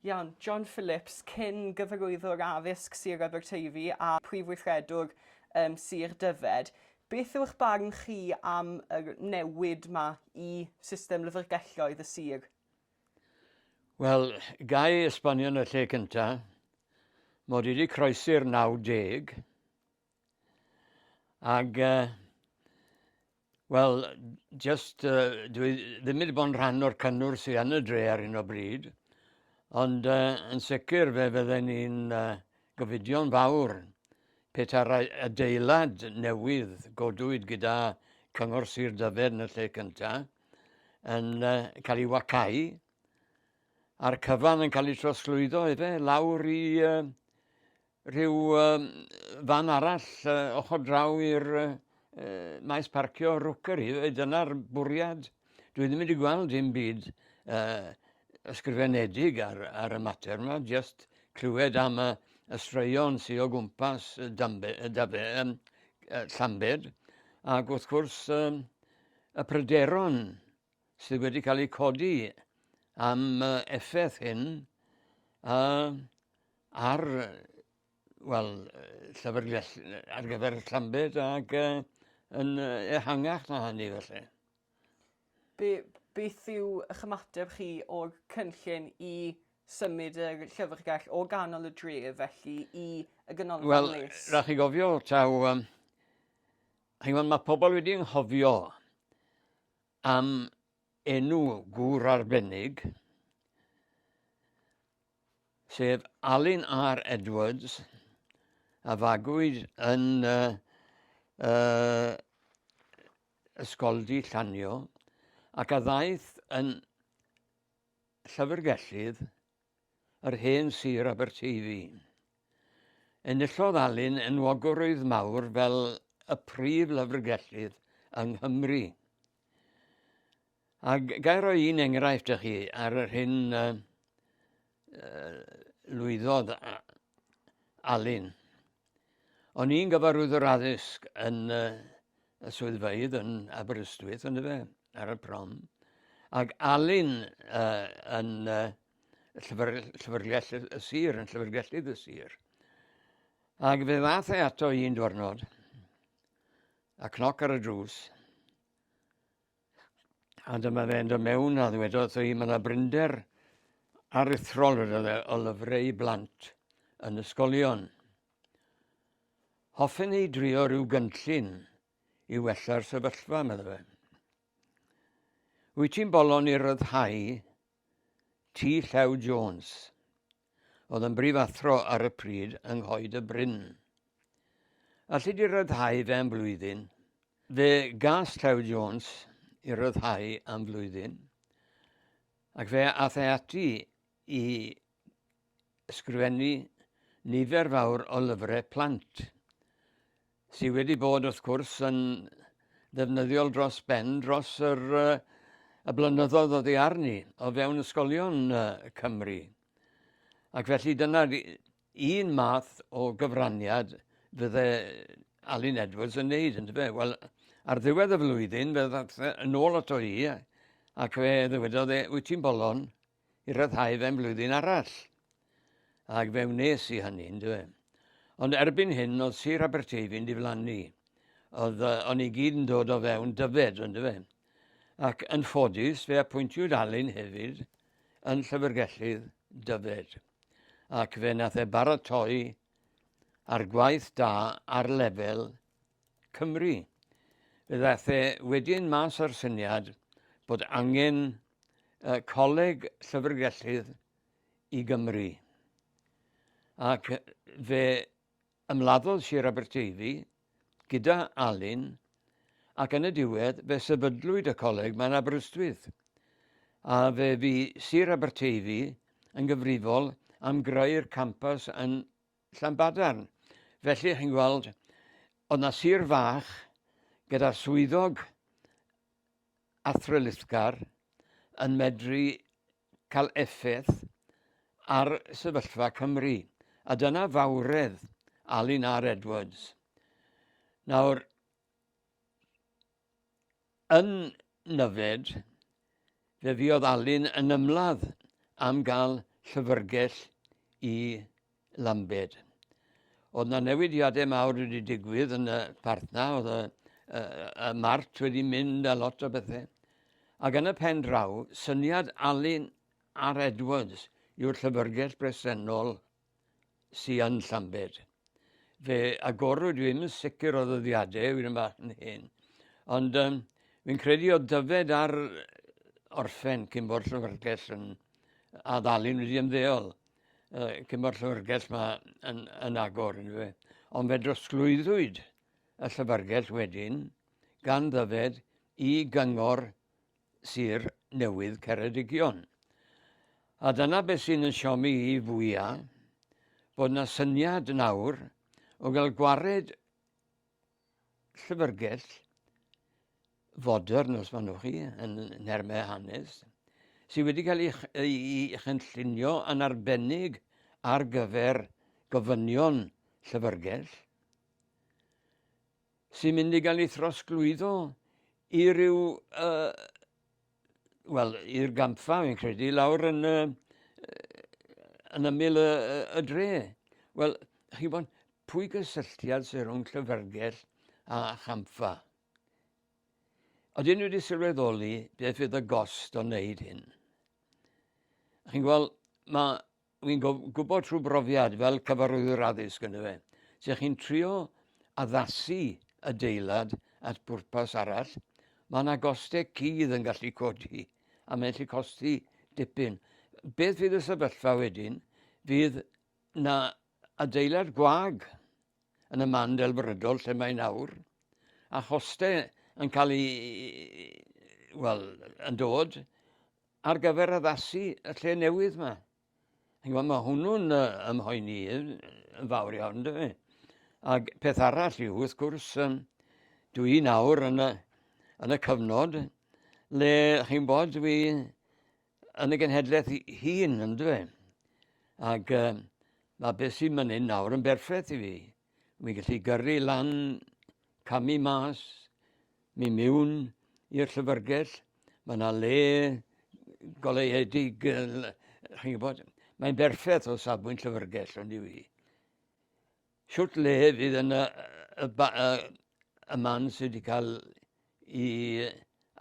Iawn, John Phillips, cyn gyfarwyddwr addysg Sir Aberteifi a Phrif Weithredwr ym Sir Dyfed, beth yw'ch barn chi am yr newid 'ma i system lyfrgelloedd y sir? Wel, ga i esbonio yn y lle cynta', mod i 'di croesi'r 90, Ac, uh, wel, just, uh, dwi ddim wedi bod yn rhan o'r cynnwr sy'n yn y dre ar hyn o bryd, ond uh, yn sicr fe fydden ni'n uh, gofidio'n fawr peta'r adeilad newydd godwyd gyda Cyngor Sir Dyfed yn y lle cyntaf yn uh, cael ei wacau a'r cyfan yn cael ei trosglwyddo efe lawr i uh, rhyw fan arall ochr draw i'r maes parcio Rookery. Dyna'r bwriad. Dwi ddim wedi gweld dim byd uh, ysgrifenedig ar, ar y mater yma, just clywed am y, y straeon sy'n o gwmpas y dambe, y dabe, um, Llambed, ac wrth gwrs um, y pryderon sydd wedi cael eu codi am effaith hyn a ar wel, llyfrgell ar gyfer Llambed ac uh, yn ehangach na hynny felly. Be, beth yw eich ymateb chi o'r cynllun i symud y llyfrgell o ganol y dref felly i y ganolfan well, les? Wel, rhaid chi gofio taw... Um, mae pobl wedi ynghofio am enw gŵr arbennig, sef Alun R Edwards, a fagwyd yn uh, uh, Ysgoldy Llanio, ac a ddaeth yn llyfrgellydd yr hen sir Aberteifi. Enillodd Alun enwogrwydd mawr fel y prif lyfrgellydd yng Nghymru. A gair roi un enghraifft ych chi ar yr hyn uh, lwyddodd Alun. O'n i'n gyfarwyddwr addysg yn uh, y swyddfeydd yn Aberystwyth, ond fe, ar y prom. Ac Alun uh, yn uh, llyfr, llyfrgell y sir, yn llyfrgellydd y sir. Ac fe ddath e ato i un diwrnod, a cnoc ar y drws, A dyma fe'n dod mewn a ddwedodd wrtho i, mae yna brinder aruthrol wedodd e, o lyfrau blant yn ysgolion. Hoffen ni drio rhyw gynllun i wella'r sefyllfa, meddwl fe. Wyt ti'n bolon i ryddhau T. Llew Jones? oedd yn brifathro ar y pryd yng Nghoed y Bryn. Alli di ryddhau fe am flwyddyn? Fe gas Llew Jones i ryddhau am flwyddyn, ac fe ath e ati i ysgrifennu nifer fawr o lyfrau plant. sydd wedi bod wrth gwrs yn ddefnyddiol dros ben dros yr, y blynyddoedd o ddiar ni o fewn ysgolion Cymru. Ac felly dyna'r un math o gyfraniad fydde Alun Edwards yn neud, yn dyfe? Wel, ar ddiwedd y flwyddyn, fe ddath yn ôl ato i, ac fe ddywedodd e, wyt ti'n bolon? i ryddhau fe'n flwyddyn arall. Ac fe wnes i hynny, yndyfe. Ond erbyn hyn, oedd Sir Aberteifi'n diflannu. Oedd, uh, o'n i gyd yn dod o fewn dyfed, yndyfe. Ac yn ffodus, fe apwyntiwyd Alun hefyd yn llyfrgellydd dyfed. Ac fe nath e baratoi ar gwaith da ar lefel Cymru. Fe ddaeth e wedyn mas â'r syniad bod angen y Coleg Llyfrgellydd i Gymru. Ac fe ymladdodd Sir Aberteifi gyda Alun ac yn y diwedd fe sefydlwyd y coleg mae'n Aberystwyth a fe fi Sir Aberteifi yn gyfrifol am greu'r campas yn Llanbadarn. Felly, chi'n gweld, oedd yna sir fach gyda'r swyddog athrylithgar yn medru cael effaith ar sefyllfa Cymru. A dyna fawredd Alun R Edwards. Nawr, Yn Nyfed, fe fuodd Alun yn ymladd am gael llyfrgell i Lambed. Oedd na newidiadau mawr wedi digwydd yn y partna, oedd y, y, y mart wedi mynd a lot o bethau. Ac yn y pen draw, syniad Alun ar Edwards yw'r llyfrgell bresennol sy yn Llambed. Fe agorwyd, dwi'm yn sicr o ddyddiadau, fi'n yn hyn, ond um, fi'n credu o dyfed ar orffen cyn bod llyfrgell yn addalun wedi ymddeol. Uh, cyn bod llyfrgell ma yn, yn agor yn fe. Ond fe drosglwyddwyd y llyfrgell wedyn gan ddyfed i gyngor Sir Newydd Ceredigion. A dyna beth sy'n yn siomi i fwya, bod na syniad nawr o gael gwared llyfrgell fodern, os maen nhw chi, yn nermau hanes, sydd wedi cael ei chynllunio yn arbennig ar gyfer gofynion llyfrgell, sy'n mynd i gael ei throsglwyddo i ryw, uh, wel, i'r gampfa, fi'n credu, lawr yn, uh, yn ymyl y, y dre. Wel, chi bod, pwy gysylltiad sy'n rhwng llyfrgell a champfa? Oedden nhw wedi sylweddoli beth fydd y gost o wneud hyn. Chi'n gweld, mae Wi'n gwybod trwy brofiad fel cyfarwyddwr addysg yn fe, sef chi'n trio addasu adeilad at bwrpas arall, mae yna gostau cudd yn gallu codi a mae'n gallu costi dipyn. Beth fydd y sefyllfa wedyn? Fydd na adeilad gwag yn y man delfrydol lle mae nawr, a chostau yn cael ei, wel, yn dod, ar gyfer addasu y lle newydd yma. Mae hwnnw'n ymhoeni yn fawr iawn, dwi. E? Ac peth arall yw, wrth gwrs, dwi nawr yn y, yn y cyfnod le, chi'n bod, dwi yn y genhedlaeth hun, yn dwi. E? Ac uh, mae beth sy'n mynd nawr yn berffaith i fi. Wi'n gallu gyrru lan, camu mas, mi miwn i'r llyfrgell. Mae yna le goleuedig, chi'n gwybod, mae'n berffaith o safbwynt llyfrgell ond i fi. Siwt le fydd yna y, y, y, y man sydd wedi cael ei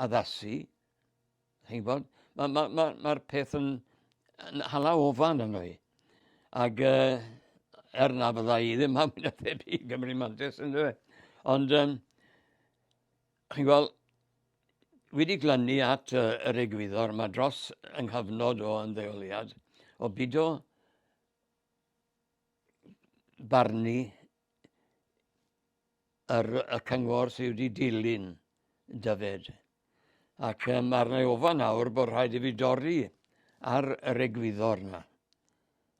addasu Chi'n gwybod? Mae'r ma, ma, ma peth yn, yn hala ofan yno i. Ac uh, er na fydda i ddim am yn y ffeb i Gymru Mantis yn dweud. Ond, um, chi'n gweld, wedi glynu at uh, yr egwyddor mae dros yng nghyfnod o ymddeoliad o bido barnu ar y cyngor sydd wedi dilyn Dyfed. Ac um, arna i ofan nawr bod rhaid i fi dorri ar yr egwyddor yna.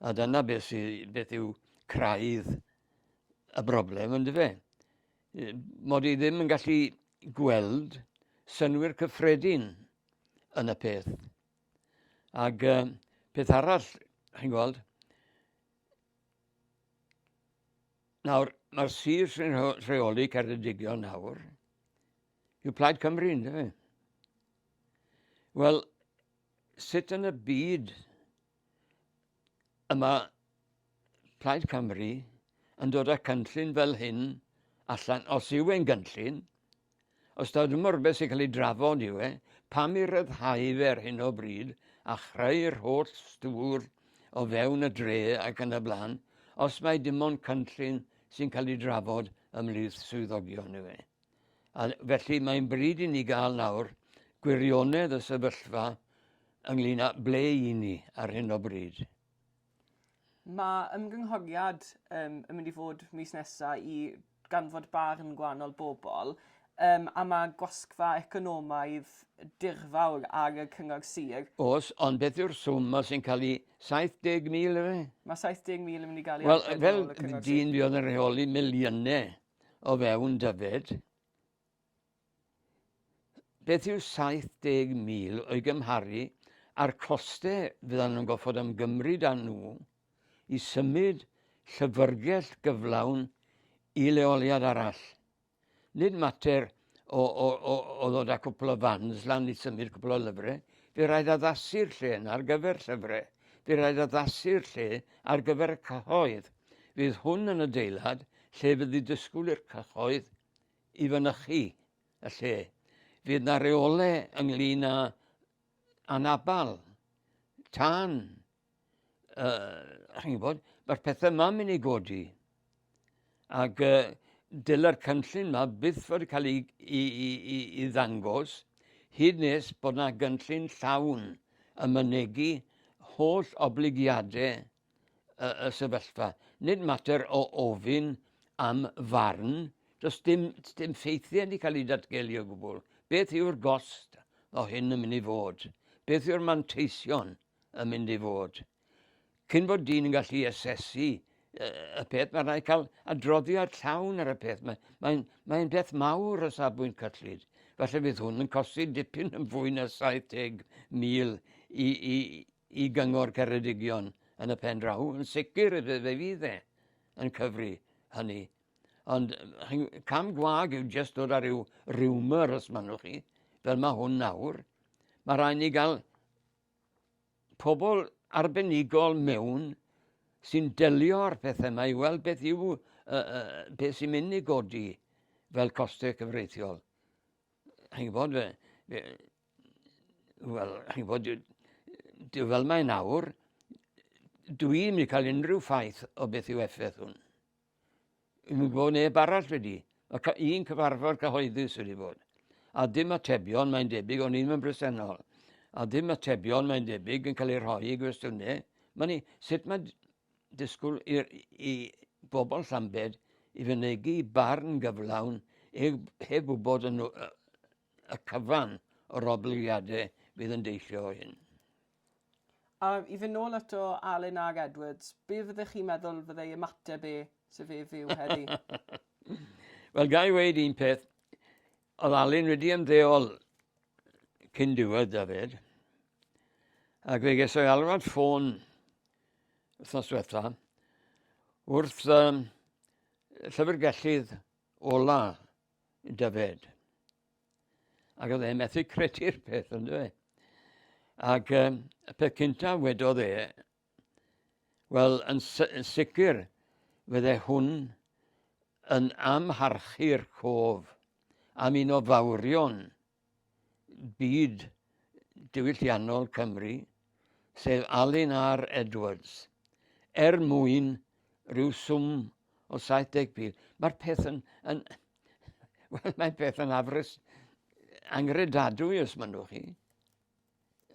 A dyna beth, sy, beth yw craidd y broblem, ynddo fe. Mod i ddim yn gallu gweld synwyr cyffredin yn y peth. Ac uh, peth arall, chi'n gweld, Nawr, mae'r sir sy'n rheoli Ceredigion nawr yw Plaid Cymru, ynddo fe? Wel, sut yn y byd yma Plaid Cymru yn dod â cynllun fel hyn allan, os yw e'n gynllun, Os taw dyma rhywbeth sy'n cael ei drafod yw e, pam i ryddhau fe ar hyn o bryd a chreu'r holl stwr o fewn y dre ac yn y blaen, os mae dim ond cynllun sy'n cael ei drafod ymhlith swyddogion yw e. A felly mae'n bryd i ni gael nawr gwirionedd y sefyllfa ynglyn â ble i ni ar hyn o bryd. Mae ymgynghoriad um, yn mynd i fod mis nesaf i ganfod barn gwahanol bobl um, a mae gwasgfa economaidd dirfawr ar y cyngor sir. Os, ond beth yw'r swm os sy'n cael ei 70,000 efe? Mae 70,000 yn mynd i gael ei well, adfer fel dyn fi oedd yn rheoli miliynau o fewn Dyfed. Beth yw 70,000 o'i gymharu â'r costau fyddan nhw'n gorfod ymgymryd â nhw i symud llyfrgell gyflawn i leoliad arall? Nid mater o, o, o, o ddod â cwpl o fans lan i symud cwpl o lyfrau. Fe rhaid addasu'r lle yna ar gyfer llyfrau. Fe rhaid addasu'r lle ar gyfer y cyhoedd. Fydd hwn yn adeilad lle fydd y disgwyl i'r cyhoedd i fynychu y lle. Fydd yna reolau ynglyn â anabal, tân, uh, chi'n gwybod, mae'r pethau yma'n mynd i godi. Ac uh, dylai'r cynllun yma byth fod yn cael ei, i, i, i, i ddangos hyd nes bod yna gynllun llawn y mynegu holl obligiadau y, y sefyllfa. Nid mater o ofyn am farn, does dim, dim ffeithiau wedi cael ei datgelu o gwbl. Beth yw'r gost o hyn yn mynd i fod? Beth yw'r manteision yn mynd i fod? Cyn bod dyn yn gallu asesu y peth, mae rhaid cael adroddiad llawn ar y peth. Mae'n mae, mae beth mawr o safbwynt cyllid. Felly fydd hwn yn costi dipyn yn fwy na 70,000 i, i, i Gyngor Ceredigion yn y pen draw, yn sicr y fe fydd e yn cyfri hynny. Ond cam gwag yw jyst dod ar ryw rumour os manwch chi, fel mae hwn nawr. Mae rhaid ni gael pobl arbenigol mewn sy'n delio â'r pethau yma i weld beth yw uh, uh, beth sy'n mynd i godi fel costau cyfreithiol. Chi'n gwybod, fe, fe, wel, chi'n bod, dwi fel mae nawr, dwi'n mynd i cael unrhyw ffaith o beth yw effaith hwn. Yn mynd bod neb arall wedi. Mae un cyfarfod cyhoeddus wedi bod. A dim atebion mae'n debyg, o'n i'n bresennol. A dim atebion mae'n debyg yn cael ei rhoi i gwestiynau. Mae ni, sut mae disgwyl i, i bobl Llambed i fynegu barn gyflawn heb wybod yn, y cyfan o'r oblygiadau fydd yn deillio o hyn. A i fynd nôl ato Alun ag Edwards, be fyddech chi'n meddwl fyddai ymateb e, sef e fyw heddi? Wel, ga i weud un peth, oedd Alun wedi ymddeol cyn diwedd Dafydd, ac fe ges o'i alwad ffôn wythnos diwetha wrth um, llyfrgellydd ola Dyfed. Ac oedd e'n methu credu'r peth, ond dwi. Ac um, y peth cyntaf wedodd e, wel, yn, yn sicr, fydde hwn yn amharchu'r cof am un o fawrion byd diwylliannol Cymru, sef Alun R Edwards, er mwyn rhyw swm o 70,000. Mae'r peth yn, yn wel, mae peth yn afres angredadwy os mynnwch chi.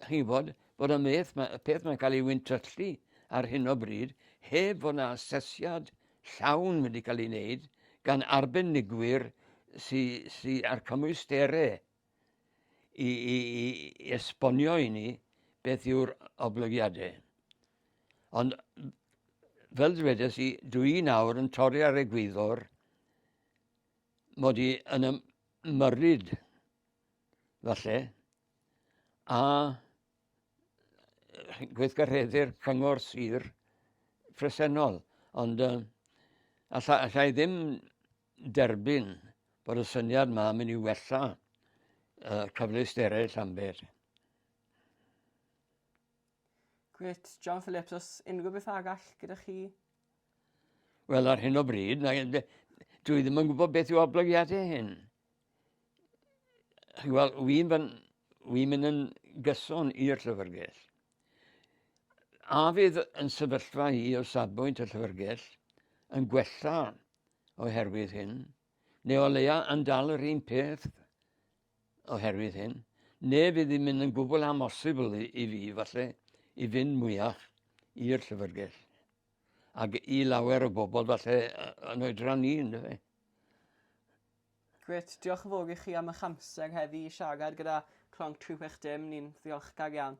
chi'n gwybod, bod y meth, ma, y peth mae'n cael ei wyntyllu ar hyn o bryd, heb fod yna asesiad llawn wedi cael ei wneud gan arbenigwyr sydd sy a'r cymwysterau i, i, i esbonio i ni beth yw'r oblygiadau. Ond fel dwedes i, dwi nawr yn torri ar egwyddor mod i yn ymyrryd falle a gweithgareddi'r cyngor sir presennol. Ond uh, alla, alla i ddim derbyn bod y syniad yma yn mynd i wella uh, cyfleusterau Llambed. Gwyt, John Phillips, os unrhyw beth agall gyda chi? Wel, ar hyn o bryd, na, dwi ddim yn gwybod beth yw oblygiadau hyn. Chi'n gweld, wy'n wy mynd yn gyson i'r llyfrgell. A fydd yn sefyllfa i o safbwynt y llyfrgell yn gwella oherwydd hyn, neu o leia yn dal yr un peth oherwydd hyn, neu fydd hi'n mynd yn gwbl amosibl i, i fi, falle, i fynd mwyach i'r llyfrgell. Ac i lawer o bobl, falle, yn oedran ni, ynddo fe. Grêt, diolch yn fowr i chi am ych amser heddi i siarad gyda Clonc 360, ni'n ddiolchgar iawn.